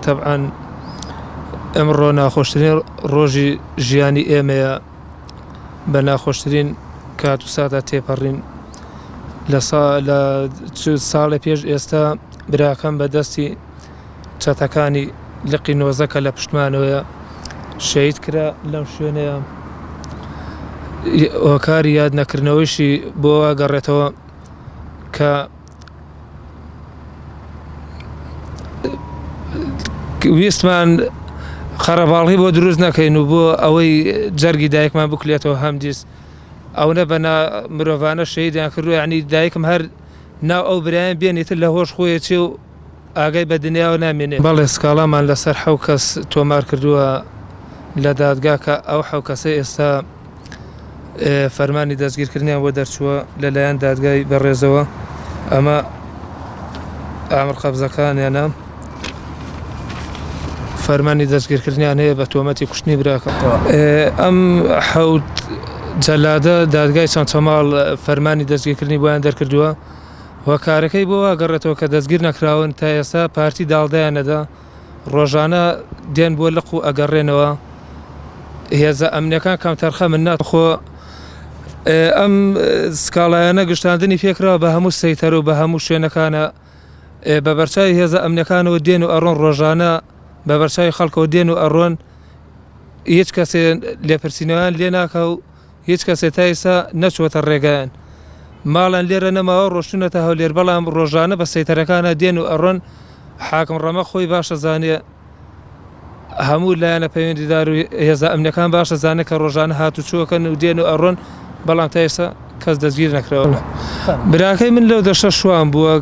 تەبعەن ئەمڕۆ ناخۆشترین ڕۆژی ژیانی ئێمەیە بە ناخۆشترین کات و ساتا تێپەڕین لە ساڵی پێش ئێستا براکەم بە دەستی چەتەکانی لقی نۆزەکە لە پشتمانەوەە شەید کرا لەم شوێنەیە ئۆکاری یاد نەکردنەوەیشی بۆ واگەڕێتەوە کە ویستمان خەرەباڵی بۆ دروست نەکەین و بۆ ئەوەی جەرگی دایکمان بکلێتەوە هەم دیست ئەوە بە مرۆڤانە شەیدان کردو عنی دایکم هەر ناو ئەو برایان بێنێتتر لە هۆش خۆی چێ و ئاگای بە دنیاوە نامێنێ بەڵێ سکاڵامان لەسەر حو کەس تۆمار کردووە لە دادگاکە ئەو حو کەسە ئێستا فەرمانی دەستگیرکردنیان بۆ دەرچووە لەلایەن دادگای بەڕێزەوە ئەمە ئامر قەبزەکانیانە فەرمانی دەستگیرکردنیان هەیە بە تۆمەتی کوشتنی براکە ئەم حەوت جەلادە دادگای چەند چەماڵ فەرمانی دەستگیرکردنی بۆیان دەرکردووە و کارەکەی بۆ واگەڕێتەوە کە دەستگیر نەکراون تا ئێستا پارتی داڵدەیانەدا ڕۆژانە دێن بۆ لق و ئەگەڕێنەوە هێزە ئەمنەکان کام تەرخە من ناخۆ ئەم سکاڵایەنە گشتاندنی فێکرەوە بە هەموو سەیتەر و بە هەموو شوێنەکانە بە بەرچوی هێزە ئەمنەکانەوە دێن و ئەڕۆن ڕۆژانە بە بەرچوی خەڵکەوە دێن و ئەڕۆن هیچ کەسێ لێپرسینەوەیان لێ ناکە و هیچ کەسێ تا ئیستا نەچوەتە ڕێگایان ماڵیان لێرە نەماوە ڕۆشتونەتە هەولێر بەڵام ڕۆژانە بە سەیتەرەکانا دێن و ئەڕۆن حاکم ڕەمە خۆی باشە زانێ هەموو لایەنە پەیوەندیدار و هێزە ئەمنەکان باشە زانێ کە ڕۆژانە هاتو چوەکەن و دێن و ئەڕۆن بەڵام تا ئیستا کەس دەستگیر نەکراوە براکەی من لەو دەشە شوان بووە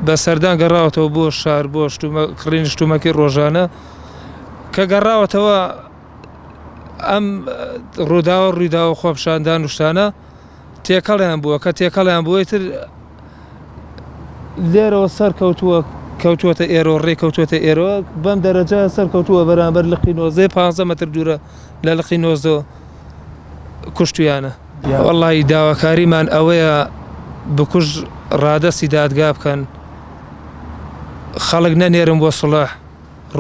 بە سەردان گەڕاوەتەوە بۆ شار بۆ شتومە کڕینی شتومەکی ڕۆژانە کە گەڕاوەتەوە ئەم ڕووداوە ڕووداوە خۆپشاندان و شتانە تێکەڵیان بووە کە تێکەڵیان بووە تر لێرەوە سەر کەوتووە کەوتووەتە ئێرۆ ڕێکەوتوێتە ئێرۆ بەم دەرەجە سەر کەوتووە بەرامبەر لقی نۆزێ پ مەتر دوورە لە لقی نۆزۆ کوشتیانە وەڵی داواکاریمان ئەوەیە بکوژ ڕادەستی دادگا بکەن خەڵک نەنێرم بۆ سڵح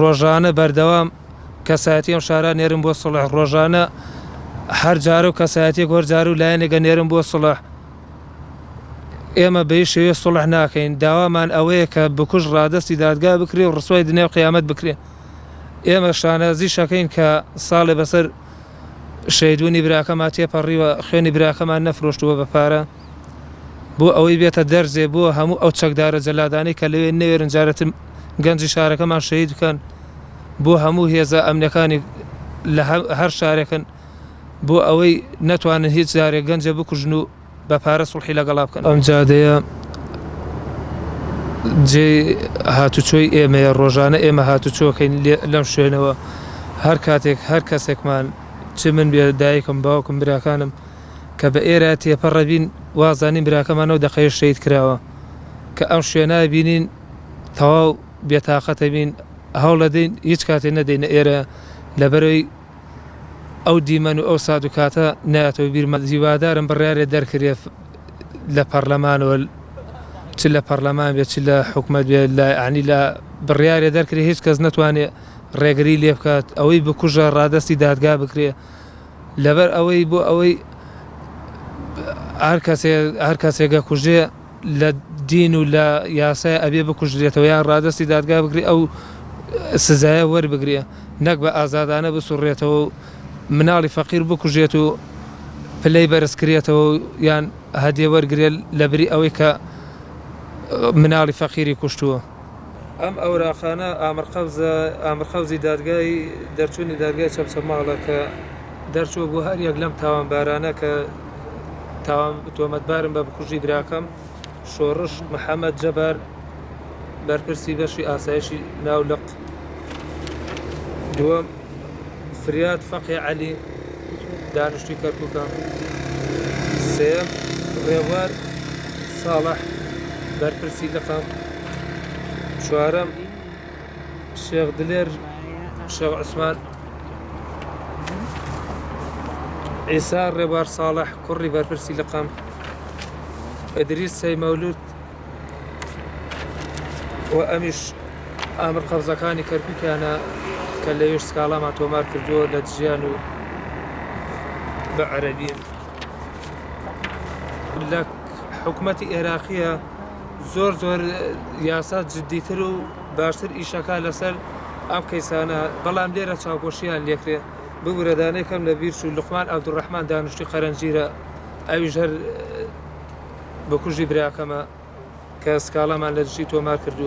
ڕۆژانە بەردەوام کەسایەتی ئەم شارە نێرم بۆ سڵح ڕۆژانە هەر جارە و کەسایەتێک هۆر جار و لایەنێکە نێرم بۆ سڵح ئێمە بەی شێوێ سڵح ناکەین داوامان ئەوەیە کە بکوژ ڕادستی دادگا بکرێ و ڕسوای دنیا و قیامەت بکرێ ئێمە شانازی شەکەین کە ساڵێ بەسەر شەیدونی براکەما تێپەڕیوە خوێنی براکەمان نەفرۆشتووە بە پارە بۆ ئەوەی بێتە دەرزێ بۆ هەموو ئەو چەکدارە جەلادانی کە لەوێ نەوێرن جارەتم گەنجی شارەکەمان شەهید بکەن بۆ هەموو هێزە ئەمنەکانی لە هەر شارێکن بۆ ئەوەی نەتوانن هیچ جارێک گەنجە بکوژن و بە پارە سڵحی لەگەڵا بکەن ئەم جادەیە جێ هاتوچۆی ئێمەیە ڕۆژانە ئێمە هاتوچۆکەین لەم شوێنەوە هەر کاتێک هەر کەسێکمان چ من بێ دایکم باوکم براکانم کە بە ئێرە تێپەڕەبین وازانین براکەمانەوە دەقەیە شەید کراوە کە ئەم شوێنە بینین تەواو بێتاقەتبین هەوڵەدەین هیچ کاتێ نەدەینە ئێرە لەبەرەی ئەو دیمەن و ئەو سات و کاتە نایەتەوە بیرمان هیوادارم بڕیارێ دەرکرێ لە پەڕلەمانەوە چ لە پەڕلەمان بێ چ لە حکومەت بێ لە عنی لە بڕیارێ دەرکرێ هیچ کەس نەتوانێ ڕێگری لێ بکات ئەوەی بکوژە ڕادستی دادگا بکرێ لەبەر ئەوەی بۆ ئەوەی هەر کەسێ هەر کەسێگە کوژێ لە دین و لە یاسایە ئەبێ بکوژرێتەوە یان ڕادەستی دادگا بکرێ ئەو سزایە وەربگرێ نەک بە ئازادانە بسوڕێتەوە و مناڵی فەقیر بکوژێت و پلەی بەرز کرێتەوە یان هەدێ وەرگێ لە بری ئەوەی کە مناڵی فەقیری کوشتووە. ئەم ئەوراقانە ئامرقەوزە ئامرقەوزی دادگای دەرچوونی دادگای چەمچەماڵە کە دەرچووە بۆ هەر یەک لەم تاوانبارانە کە تاوان تۆمەتبارن بە بکوژی براکەم شۆڕش محەممەد جەبار بەرپرسی بەشی ئاسایشی ناولق دووەم فریاد فەقێ عەلی، دانیشتووی کەرکووکە، سێیەم، ڕێبوار ساڵح، بەرپرسی لقە، چوارەم، شێخ دلێر شێخ عوسمان، عیسا ڕێبوار ساڵح، کوڕی بەرپرسی لقە، ئیدریس سەیمەولود، و ئەمیش ئامر قەرزەکانی کەرکوکیانە کە لەوێش سکاڵامان تۆمار کردووە لە دژیان و بە عەربیە لە حکوومەتی ئێراقیە زۆر زۆر یاسا جددیتر و باشتر ئیشەکە لەسەر ئەم کەیسانە بەڵام لێرە چاوپۆشیان لێکرێ ببورەدانەکەم لە بیرچوو لقمان عبدڕحمان دانیشتی قەرەنجیرە ئەویش هەر بکوژی براکەمە کە سکاڵامان لە دژی تۆمار کردووە.